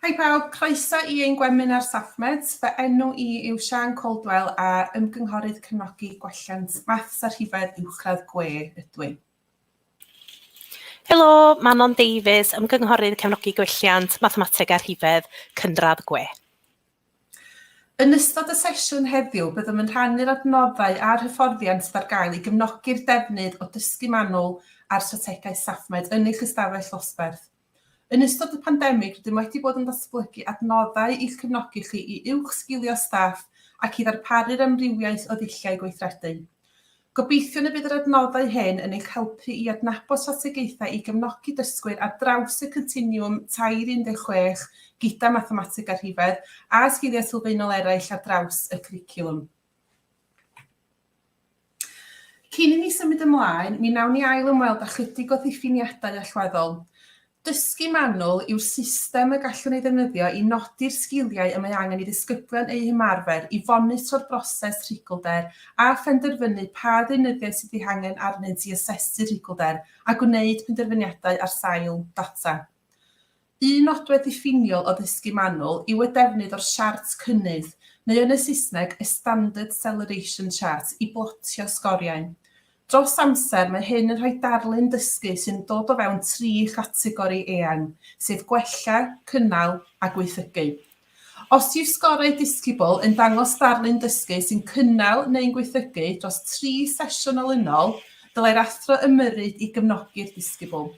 Hei pawb, croeso i ein gweminar SaffMeds. Fy enw i yw Siân Caldwell a Ymgynghorydd Cefnogi Gwelliant Maths a Rhifedd Uwchradd Gwe ydw i. Helo, Manon Davies, Ymgynghorydd Cefnogi Gwelliant Mathemateg a Rhifedd Cynradd Gwe. Yn ystod y sesiwn heddiw byddwn yn rhannu'r adnoddau a'r hyfforddiant sydd ar gael i gefnogi'r defnydd o dysgu manwl a'r strategaeth SafMed yn eich ystafell ddosberth. Yn ystod y pandemig rydym wedi bod yn datblygu adnoddau i'ch cefnogi chi i uwchsgilio staff ac i ddarparu'r amrywiaeth o ddulliau gweithredu. Gobeithiwn y bydd yr adnoddau hyn yn eich helpu i adnabod strategaethau i gefnogi dysgwyr ar draws y Continwwm Tair 16 gyda Mathemateg a Rhifedd a sgiliau sylfaenol eraill ar draws y cwricwlwm. Cyn i ni symud ymlaen, mi wnawn ni ail-ymweld â chydig o ddiffiniadau allweddol. Dysgu manwl yw'r system y gallwn ei ddefnyddio i nodi'r sgiliau y mae angen i ddisgyblion eu hymarfer, i fonitro'r broses rhigolder a phenderfynu pa ddeunyddiau sydd eu hangen arnynt i asesu'r rhigolder a gwneud penderfyniadau ar sail data. Un nodwedd diffiniol o ddysgu manwl yw y defnydd o'r siart cynnydd, neu yn y Saesneg, a standard celeration chart, i blotio sgoriau. Dros amser, mae hyn yn rhoi darlun dysgu sy'n dod o fewn tri chategori eang, sef gwella, cynnal a gwaethygu. Os yw sgorau Discibl yn dangos darlun dysgu sy'n cynnal neu'n gwaethygu dros tri sesiwn olynol, dylai'r athro ymyrryd i gefnogi'r disgybl.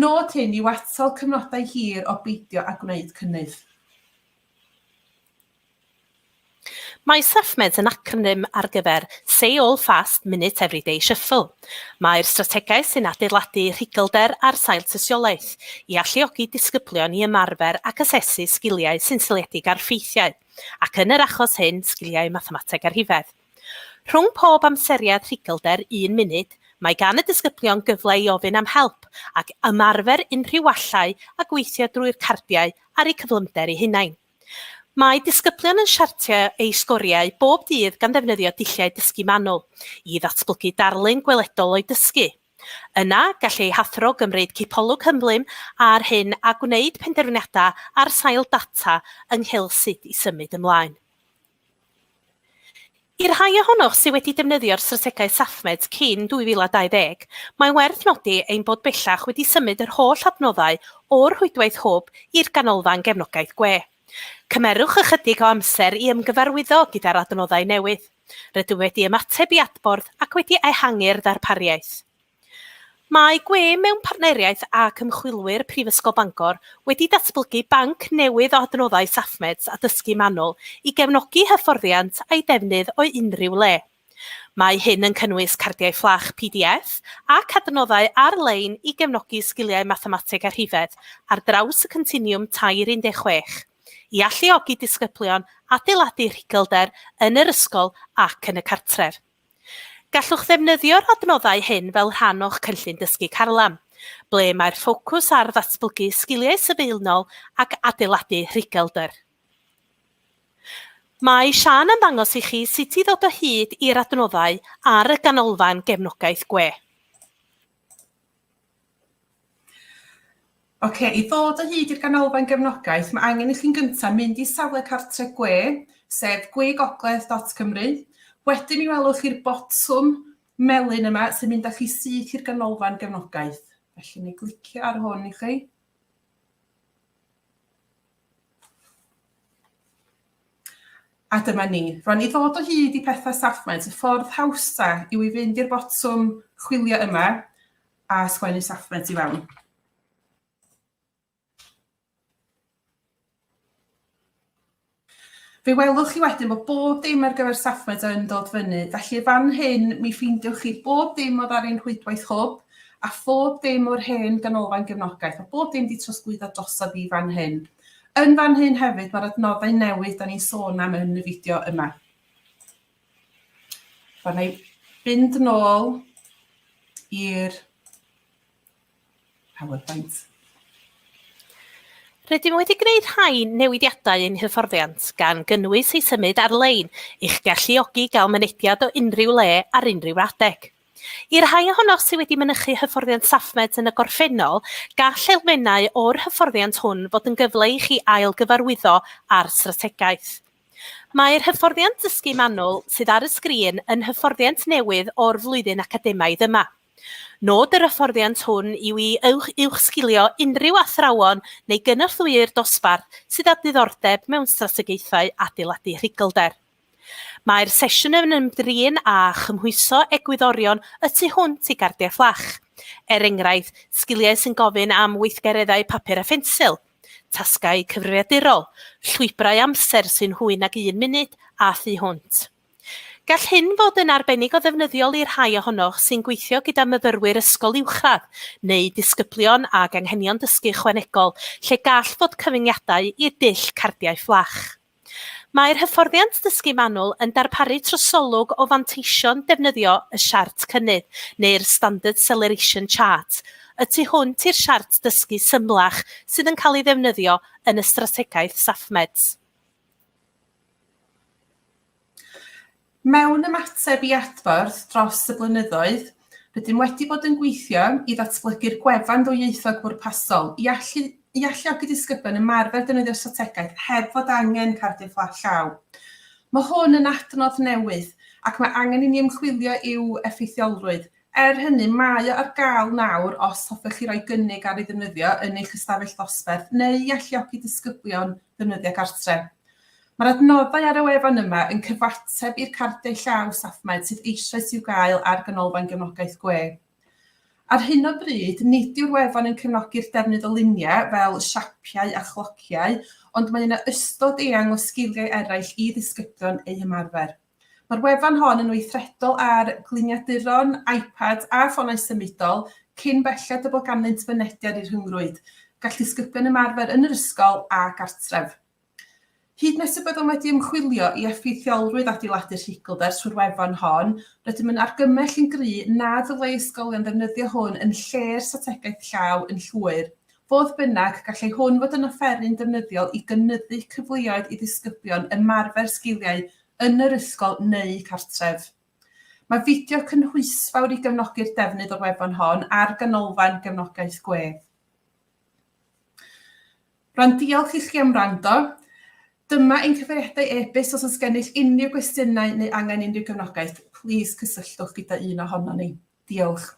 Nod hyn yw atal cyfnodau hir o beidio â gwneud cynnydd. Mae SafeMeds yn acronym ar gyfer Say All Fast Minute Everyday Shuffle. Mae'r strategaeth sy'n adeiladu rhuglder ar sail tystiolaeth i alluogi disgyblion i ymarfer ac asesu sgiliau sy'n seiliedig ar ffeithiau, ac yn yr achos hyn, sgiliau mathemateg a rhifedd. Rhwng pob amseriad rhuglder un munud, mae gan y disgyblion gyfle i ofyn am help ac ymarfer unrhyw wallau a gweithio drwy'r cardiau ar eu cyflymder eu hunain. Mae disgyblion yn siartio eu sgoriau bob dydd gan ddefnyddio dulliau dysgu manwl i ddatblygu darlun gweledol o'u dysgu. Yna, gall eu hathro gymryd cipolwg hymhlym ar hyn a gwneud penderfyniadau ar sail data ynghylch sut i symud ymlaen. I'r rhai ohonoch sydd wedi defnyddio'r strategaeth SafeMeds cyn 2020, mae'n werth nodi ein bod bellach wedi symud yr holl adnoddau o'r rhwydwaith hwb i'r Ganolfan Gefnogaeth Gwe. Cymerwch ychydig o amser i ymgyfarwyddo gyda'r adnoddau newydd. Rydym wedi ymateb i adborth ac wedi ehangu'r ddarpariaeth. Mae gwe mewn partneriaeth ac ymchwilwyr Prifysgol Bangor wedi datblygu banc newydd o adnoddau SafeMeds a dysgu manwl i gefnogi hyfforddiant a'i defnydd o unrhyw le. Mae hyn yn cynnwys cardiau fflach pdf ac adnoddau ar-lein i gefnogi sgiliau mathemateg a rhifedd ar draws y Continiwm Tair 16, i alluogi disgyblion adeiladu rhugylder yn yr ysgol ac yn y cartref. Gallwch ddefnyddio'r adnoddau hyn fel rhan o'ch cynllun dysgu carlam, ble mae'r ffocws ar ddatblygu sgiliau sylfaenol ac adeiladu rhuglder. Mae Siân yn dangos i chi sut i ddod o hyd i'r adnoddau ar y ganolfan gefnogaeth gwe. Ok, i ddod o hyd i'r ganolfan gefnogaeth, mae angen i chi'n gyntaf mynd i safle cartref gwe, sef gwegogledd.cymru. Wedyn mi welwch chi'r botwm melyn yma sy'n mynd â chi syth i'r ganolfan gefnogaeth. Felly, mi glicio ar hwn i chi. A dyma ni. Rwan i ddod o hyd i pethau Safmaint, y ffordd hawsa yw i fynd i'r botwm chwilio yma a sgwennu Safmaint i fewn. Fe welwch chi wedyn bod bob dim ar gyfer Safmaint yn dod fyny, felly fan hyn mi ffeindiwch chi bob dim oedd ar ein rhwydwaith hwb, A phob dim o'r hen ganolfan gefnogaeth, mae bob dim 'di trosglwyddo drosodd i fan hyn. Yn fan hyn hefyd mae'r adnoddau newydd 'da ni'n sôn am yn y fideo yma. Rwan, na i fynd nôl i'r PowerPoint. Rydym wedi gwneud rhai newidiadau ein hyfforddiant, gan gynnwys ei symud ar-lein, i'ch galluogi gael mynediad o unrhyw le ar unrhyw adeg. I'r rhai ohonoch sydd wedi mynychu hyfforddiant SafeMeds yn y gorffennol, gall elfennau o'r hyfforddiant hwn fod yn gyfle i chi ail-gyfarwyddo â'r strategaeth. Mae'r hyfforddiant dysgu manwl sydd ar y sgrin yn hyfforddiant newydd o'r flwyddyn academaidd yma. Nod yr hyfforddiant hwn yw i uwchsgilio unrhyw athrawon neu gynorthwywyr dosbarth sydd â diddordeb mewn strategaethau adeiladu rhuglder. Mae'r sesiwn yn ymdrin â chymhwyso egwyddorion y tu hwnt i gardiau fflach, er enghraifft sgiliau sy'n gofyn am weithgareddau papur a phensil, tasgau cyfrifiadurol, llwybrau amser sy'n hwy nag un munud a thu hwnt. Gall hyn fod yn arbennig o ddefnyddiol i'r rhai ohonoch sy'n gweithio gyda myfyrwyr ysgol uwchradd neu ddisgyblion ag anghenion dysgu ychwanegol lle gall fod cyfyngiadau i'r dull cardiau fflach. Mae'r hyfforddiant ddysgu manwl yn darparu trosolwg o fanteision defnyddio y Siart Cynnydd, neu'r Standard Celeration Chart, y tu hwnt i'r siart dysgu symlach sydd yn cael ei ddefnyddio yn y strategaeth SafeMeds. Mewn ymateb i adborth dros y blynyddoedd, rydym wedi bod yn gweithio i ddatblygu'r gwefan ddwyieithog bwrpasol i allu i alluogi disgyblion ymarfer defnyddio'r strategaeth heb fod angen cardiau fflat llaw. Mae hwn yn adnodd newydd ac mae angen i ni ymchwilio i'w effeithiolrwydd. Er hynny, mae o ar gael nawr os hoffech chi roi gynnig ar ei ddefnyddio yn eich ystafell ddosberth neu i alluogi disgyblion ddefnyddio gartre. Mae'r adnoddau ar y wefan yma yn cyfateb i'r cardiau llaw SafeMed sydd eisoes i'w gael ar Ganolfan Gefnogaeth Gwe. Ar hyn o bryd, nid yw'r wefan yn cefnogi'r defnydd o luniau fel siapiau a chlociau, ond mae yna ystod eang o sgiliau eraill i ddisgyblion eu hymarfer. Mae'r wefan hon yn weithredol ar gliniaduron, iPads a ffonau symudol, cyn belled y bod ganddynt fynediad i'r rhyngrwyd. Gall disgyblion ymarfer yn yr ysgol a gartref. Hyd nes y byddwn wedi ymchwilio i effeithiolrwydd adeiladu rhigl ers hwyr Wefan hon, rydym yn argymell yn gry' na ddylai ysgolion ddefnyddio hwn yn lle'r strategaeth llaw yn llwyr. Fodd bynnag, gallai hwn fod yn offeryn defnyddiol i gynyddu cyfleoedd i ddisgyblion ymarfer sgiliau yn yr ysgol neu cartref. Mae fideo cynhwysfawr i gefnogi'r defnydd o'r wefan hon ar Ganolfan Gefnogaeth Gwedd. Rhan diolch i chi am wrando. Dyma ein cyfeiriadau e-byst os oes gennych unrhyw gwestiynau neu angen unrhyw gefnogaeth, plîs cysylltwch gyda un ohonon ni. Diolch.